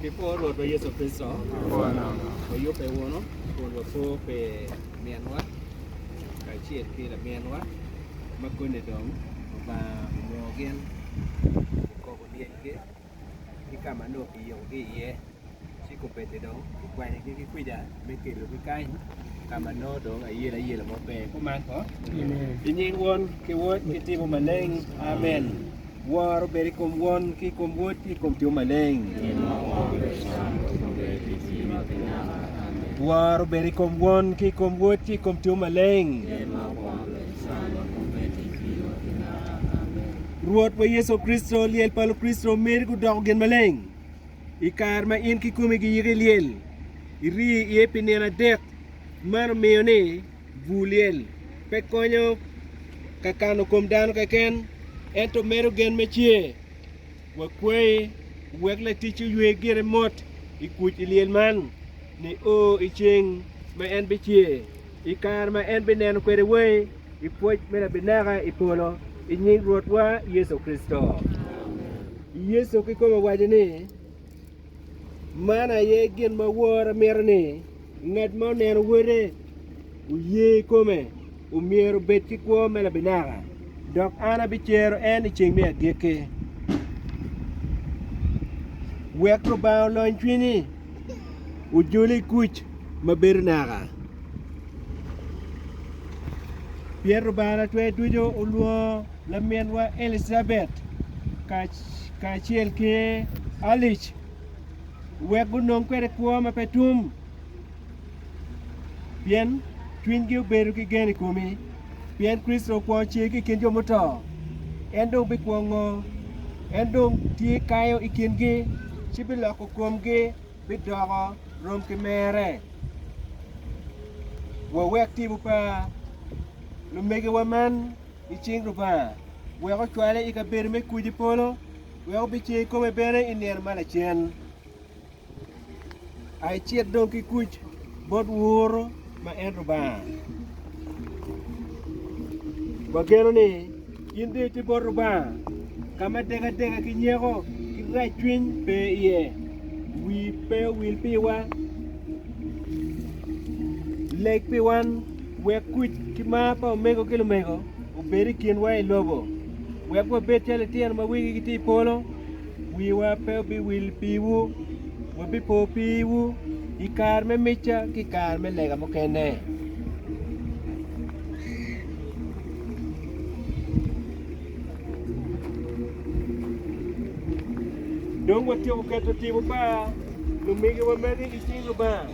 Pi kwo Rwotwa Yecu Kricito, wayubbe wunu kun wapo pi minwa kacel ki laminwa ma koni dong Lubanga onongo gin okobo dyegi ki ka ma nongo kiyikogi iye, ci kubeddi dong kikwanyogi ki kwija me kelogi kany ka ma nongo dong ayelo ayela mo pe. Kuman kono. I nying Won ki Wod ki Tipo Maleng, amen. Woro obed i kom Won, ki i kom Wod, ki i kom Tyom Maleng. Woro obed i kom Won, ki i kom Wod, ki i kom Tyom Maleng. Rwotwa Yecu Kricito, lyel pa Lukricito omedi gudoko gin maleng. I kare ma in kikomi giyiko i lyel, iri iye pi nino adek, man omiyo ni, Bur lyel pe konyo ka kano kom dano keken, ento medo gen me cer. Wakwayi wek laticci oywe gire mot i kuc i lyel man nio i ceng ma en bicer, i kare ma en bineno kwede wai i pwoc me labinaka i polo, i nying Rwotwa Yecu Kricito. Yecu kikome owaco ni. Man aye gin ma woro mito ni ngat ma oneno wote oye kome omyero obed ki kwo me labinaka dok an abicero en i ceng me agikki. Wek Lubanga olony cwinyi ojole i kuc ma bedo naka pien Lubanga Lacwe ducu olwongo laminwa Elicabet kacel ki Alice wek gunong kwede kwo ma pe tum pien cwinygi obedo ki gen i komi, pien Kricito okwongo cer ki i kin jo muto, en dong bikwo ngo? En dong tye kayo i kingi, ci biloko komgi bidoko rom ki mere. Wawek timo pa lumegiwa man. i cing Lubanga, wek ocwale i kabedo me kuc i polo, wek obicer i kome bene i nino ma lacen. A Icit dong ki kuc bot Woro ma en Lubanga. Wageno ni in dong iti bot Lubanga ka ma dekadeka ki nyeko ki racwiny pe iye. Wii pe owil piwa, leg pi wan. Wek kuc ki mar pa omego ki lumego obed i kinwa i lobo, wek wabed calo litino ma wigi gitye i polo. Wiwa pe obiwil piwu, wabipo piwu i kare me micca ki i kare me lega mukene. Dong watyeko keto tipo pa lumegiwa magi i cing Lubanga.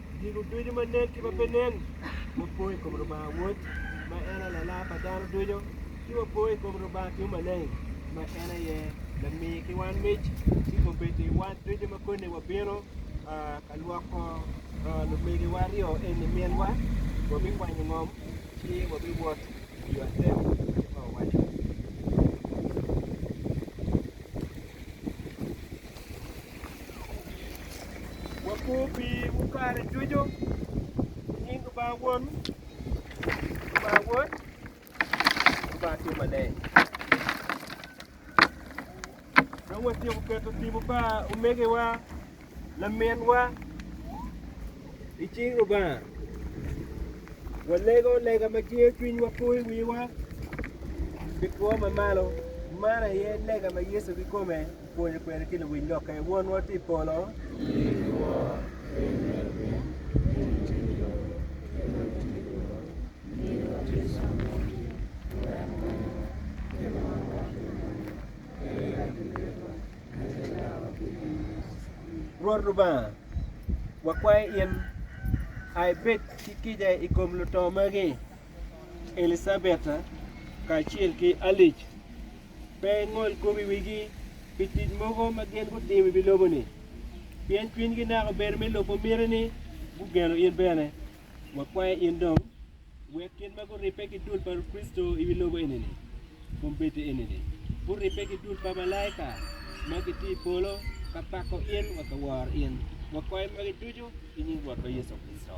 Gigo ducu ma nen ki ma pe nen, wapo i kom Lubanga Wod, ma en aye Lala pa dano ducu, ci wapo i kom Lubanga Tung Maleng, ma en aye lami ki wan mic ki kombeddi wan ducu ma koni wabino ka lwoko lumegiwa aryo eni minwa, wabikwanyo ngom ci wabiwot i yo atek kit ma wawaco-ni. Wapor pii mu kare ducu i nying Lubanga Won, Lubanga Wod, Lubanga Atir Maleng. Dong watyeko keto tipo pa omegiwa, laminwa i cing Lubanga. Walego lega ma cwiyo cwinywa po i wiwa ki two mamalo, man aye lega ma Yecu kikome Pwonyo kwede ki luwiny lokke. Wonwa tye i polo. Rwot Lubanga, wakwayo in a ibed ki kica i kom luto magi, Elicabetta kacel ki Alice. pe engol kop i wigi pi tic mogo ma gin gutimo i wi lobo-ni, pien cwinygi naka obedo me lubo mitini, gugeno in bene. Wakwayo in dong, wek kit ma guribbe ki dul pa Kricito i wi lobo enini, kombeddi enini, guribbe ki dul pa malaika ma gitye i polo ka pako in wa ka woro in. Wakwayo magi ducu i nying Rwotwa Yecu Kricito.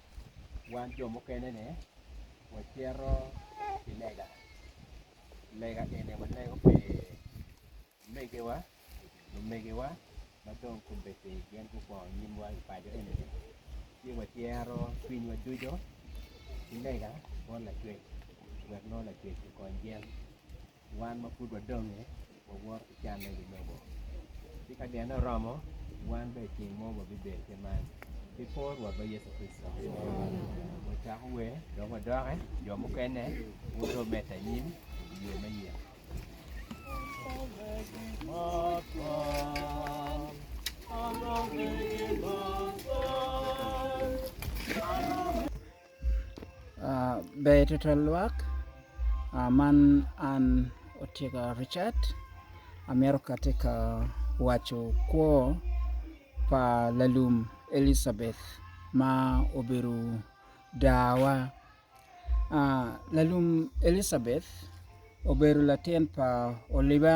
wan jo mukene ni wacito ki lega, lega eni walego pi omegiwa, lumegiwa ma dong kombeddi gin gukwongo nyimwa i paco eni ni ci wacito cwinywa ducu ki lega bot Lacwec wek nongo Lacwec okony gin. Wan ma pud wadonge wawoto ki canne ki lobo, ci ka dyene oromo, wan bene i ceng mo wabibedo kit man ki kor Rwotwa Yecu Kricito. Wacako wer dok wadokke, jo mukene guto medde anyim i yo me yek. Ber twatwal lwak, man an Otika Richard amito kati ka waco kwo pa lalum Elizabeth ma obedo dawa. Lalum Elizabeth obedo latin pa Oliba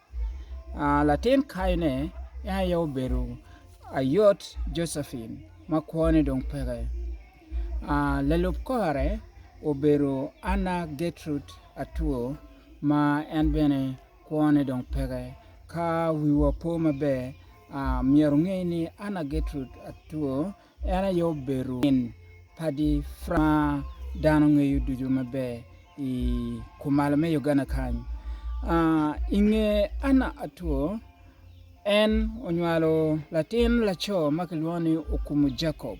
Latin kayine en aye obedo ayot Jojacin ma kwone dong peke. Lalub kore obedo Anna Getrud Atwo ma en bene kwone dong peke. Ka wiwa po maber myero onge ni Anna Getrud Atwo En aye obedo min pa Diframa ma dano ngeyo ducu maber i kumalo me Uganda kany. I nge Anna Atua, en onywalo latin laco ma kilwongo ni Okumu Jacob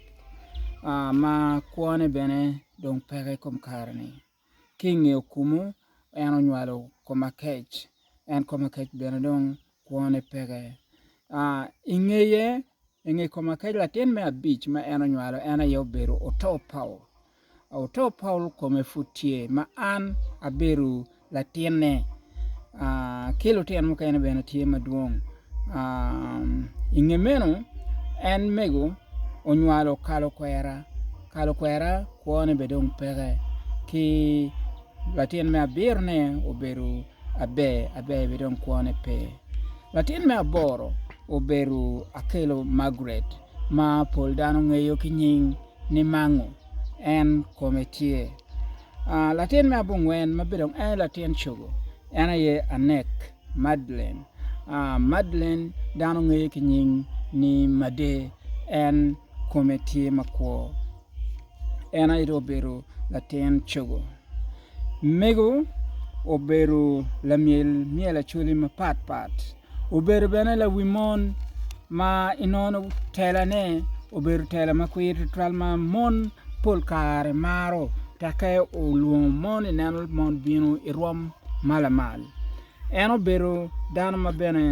ma kwone bene dong peke i kom kare-ni. Ki i nge okumu, en onywalo kom akec, en kom akec bene dong kwone peke. I ngeye, i nge kom akec, latin me abic ma en onywalo en aye obedo oto Paul. Oto Paul kome pud tye ma an abedo latinne. ki lutino mukene bene tye madwong i nge meno en mego onywalo kalo kwera kalo kwera kwo ne bene dong peke ki latin me abiro ne obedo aber aber bene dong kwo ne pe latin me aboro obedo akelo Margaret ma pol dano ngeyo ki nying ni mango en kome tye. Latin me abongwen ma bedo en aye latin cogo en aye Anek Madlen. Madlen dano ngeye ki nying ni Made en kome tye makwo en aye dong obedo latin cogo. Mego obedo lamyel myel Acholi mapat pat. Obedo bene lawi mon ma inongo telane obedo tela ma kwir tutwal ma mon pol kare maro tekke olwongo mon i neno mon bino i rwom ma lamal en obedo dano ma bene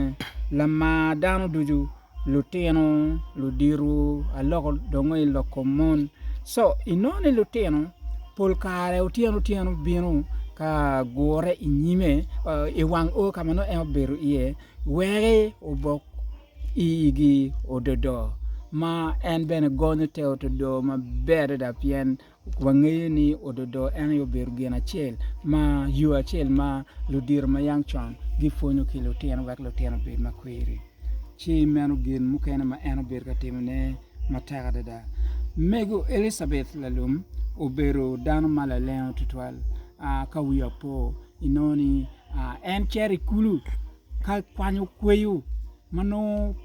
lamar dano ducu. lutino ludito aloko dongo i lok kom mon co inongo ni lutino pol kare otyeno otyeno bino ka gure i nyime i wang o ka ma nongo en obedo iye wek obok igi ododo ma en bene gonyo te ododo maber adada pien Wangeyo ni ododo en aye obedo gin acel ma yo acel ma ludito ma yam con gipwonyo ki lutino wek lutino obed ma kwiri. Ci meno gin mukene ma en obedo ka timone matek adada. Mego Elicabeth lalum obedo dano ma lalengo tutwal. Ka wiye opo inongo ni en cito i kulu ka kwanyo kweyo ma nongo.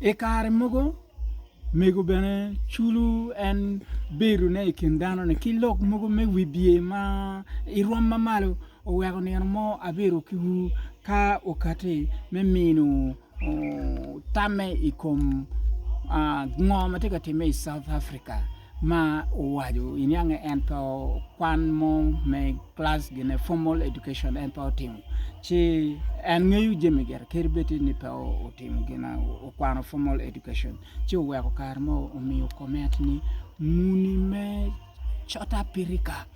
I kare mogo mego bene culo en bedone i kin danone ki lok mogo me wibye ma irwom mamalo oweko nino mo abiro kiwu ka okati me mino tamme i kom ngo ma tye ka timme i South Africa. ma owaco i niange ento kwan mo me class gine formal education en pe otimo ci en ngeyo jami gire kadi bed ni en pe otimo gin okwano formal education ci oweko kare mo omiyo comment ni muni me cota pirika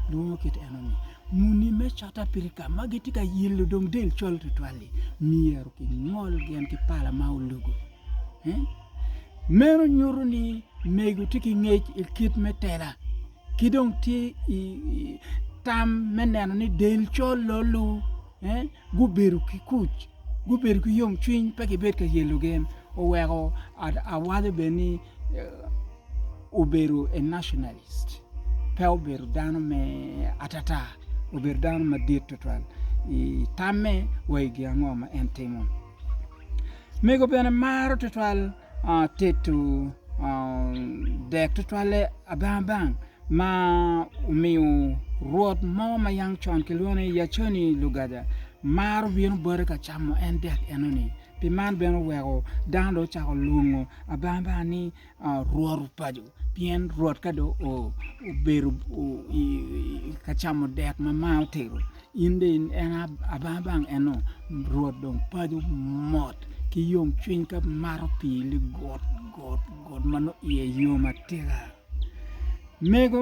lwongo kit eno ni muni me cota pirika ma gitye ka yelo dong del col tutwal-li myero kingol gin ki pala ma olugo Meno nyuto ni mego tye ki ngec i kit me tela ki dong tye ki tam me neno ni del col-lo lu gubedo ki kuc gubedo ki yomcwiny pe gibedo ka yelo gen oweko awalo bene ni obedo a nationalist pe obedo dano me atata obedo dano madit tutwal i tamme wa i gin ango ma en timo. Mego bene maro twatwal tedo dek twatwalle abang abang ma omiyo rwot mo ma yang con kilwongo ni Yaconi Lugaja maro bino bote ka camo en dek enoni pi man bene oweko dano dong ocako lwongo abang abang ni Rwot opaco, pien Rwot ka dong obedo ka camo dek ma mar otero, in dong en abang abang eno, Rwot dong paco mot ki yomcwiny ka mato pii ligut gut ma nongo iye yom atika. Mego.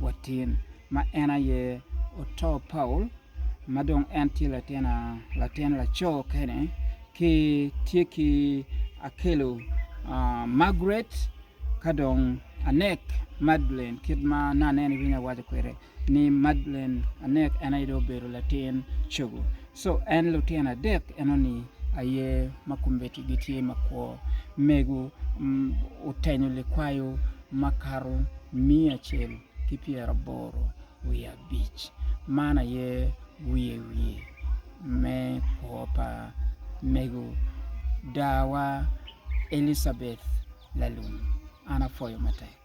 Watin, ma en aye oto Paul ma dong en tye latin laco kene, ki tye ki akelo Margaret ka dong anek Madeleine kit ma aneno ni winy awaco kwede ni Madeleine anek en aye dong obedo latin cogo. Co en lutino adek enoni aye ma kombeddi gitye makwo. Mego otenyo likwayo makato miya acel ki pyeraboro wiye abic. Man aye wiye wiye me kwo pa mego dawa Elicabeth Lalum. An apwoyo matek.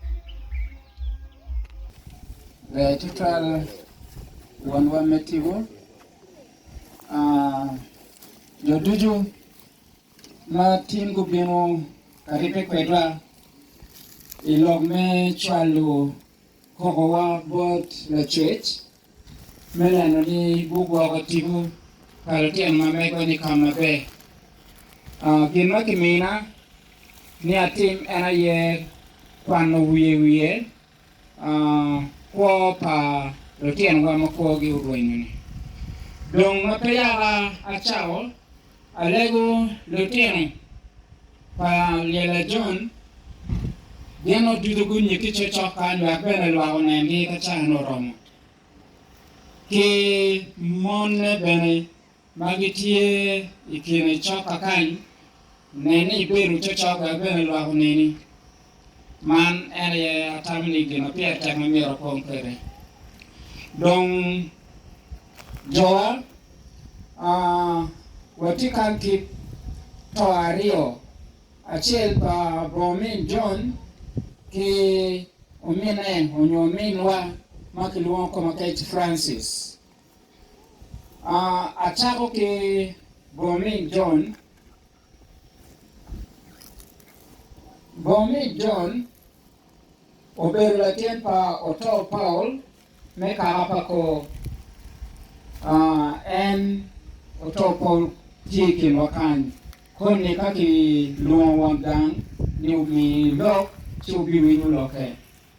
Jo ducu ma tin gubino ka ribbe kwedwa i lok me cwalo kokowa bot lacwec me neno ni gugwoko tipo pa lutino ma mego-ni ka maber. Gin ma kimina ni atim en aye kwano wiye wiye Kwo pa lutinowa ma kwogi orwenyo-ni. Dong ma pe yaka acako alego lutino pa Lyella John, gin odudo gunye ki cocokka nywak bene lwak onengi ka caa-nu oromo. Ki mone bene. ma gitye i kine coka kany, nen ni ibedo cocoga bene lwak oneni. Man en aye atamo ni gin ma pire tek ma myero akong kwede. Dong jowa watye kany ki to aryo, acel pa bo omin John ki omine onyo ominwa ma kilwongo kome kec Francis. Acako ki Booming John. Booming John obedo latin pa Otoo Paul me kaka pa kor. En Otoo Paul tye i kinwa kany koni ka kilwongo wang gang ni omi lok ci wubin winy wulokke.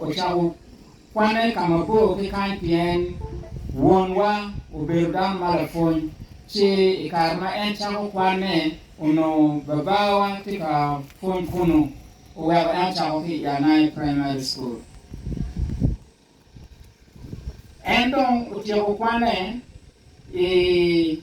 ocako kwanne ka mabor ki kany pien wonwa obedo dano ma lapwony, ci i kare ma en cako kwanne, onongo babawa tye ka pwony kunnu, oweko en ocako ki i Anai Primary School. En dong otyeko kwanne i.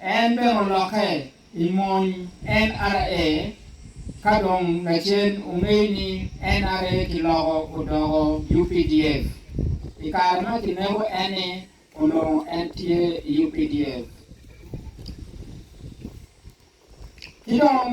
En bene olokke i mony NRA ka dong lacen ongeyo ni NRA kiloko odoko UPDF. I kare ma kineko en-ni, onongo en tye i UPDF. Ki dong.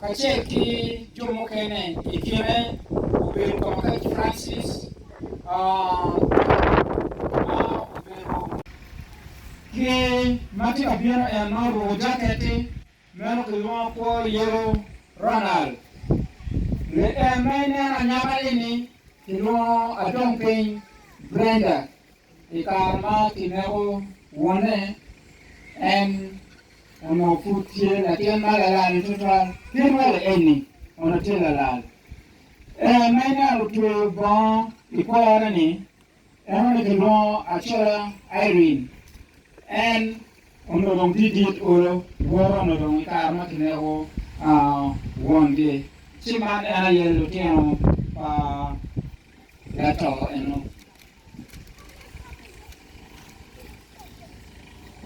kacel ki jo mukene i kine obedo ka makati ki Francis ma obedo ki ma tye ka bino en ma oruko jaketti meno kilwongo kwo yelo Ronald Reagan ma ineno anyaka ini kilwongo adong piny Brenda I kare ma kineko wonne, en onongo pud tye latin ma lalane tutwal. Kit welo eni onongo tye lalal. En ma ineno otweyo bongo i kore-ni, en onongo kilwongo acola Irene. En onongo dong tye dit olo, woto onongo dong i kare ma kineko wongi. Ci man en aye lutino pa. Lato eno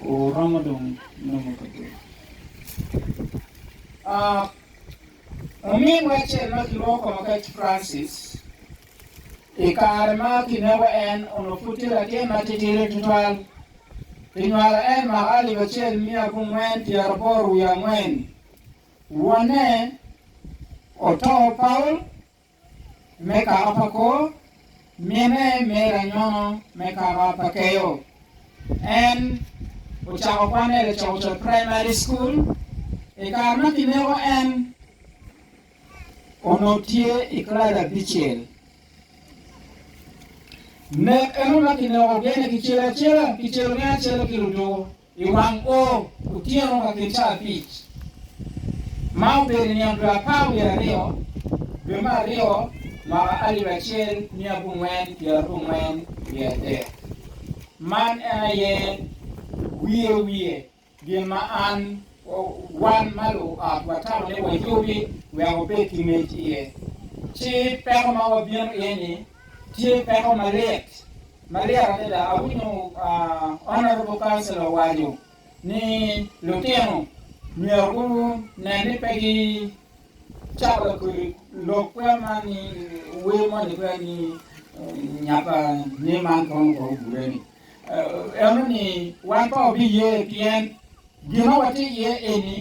oromo dong nongo kabedo. Ominwa acel ma kilwongo kwongo Kate Francis, i kare ma kineko en onongo pud tye latin matitidi tutwal. Kinywalo en mwaka alip acel miya abongwen pyeraboro wiye angwen. Wonne oto, Paul. me kara pa kor mine me ranyono me kara pa keyo. En ocako kwanne i Lacokocok Primary School. I kare ma kineko en onongo tye i klas abicel. Nek eno ma kineko gene ki cel acela, kicelo gene acela ki ludwo. I wang kor otyeno ma kit ca abic, ma obedo i nino dwe apar wiye aryo, dwe me aryo, mwaka alip acel mia abongwen pyera abongwen wiye adek, man en aye wiye wiye gin ma an, wan ma luot watamo ni wayubi wek wabed ki ngec iye. Ci peko ma wabino iye-ni tye peko malit. Maryek adada awinyo Honorable Councillor waco ni lutino myero gu nen ni pe gi cako lakodi lok kwer man ni wer moni kwer ni nyappa ni man kono kor ogure ni eno ni wan pe wabi ye pien gin ma watye iye eni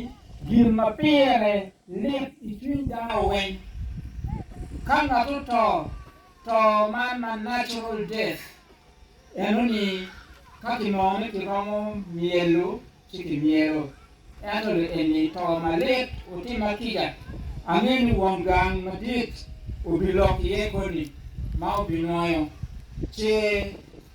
gin ma pire lit icwiny dano weng ka ngat oto To man ma natural death eno ni ka kinongo ni kiromo myelo ci kimyelo. Ento le eni to malit otimma kica, angeyo ni won gang madit obilok iye koni ma obinwoyo ce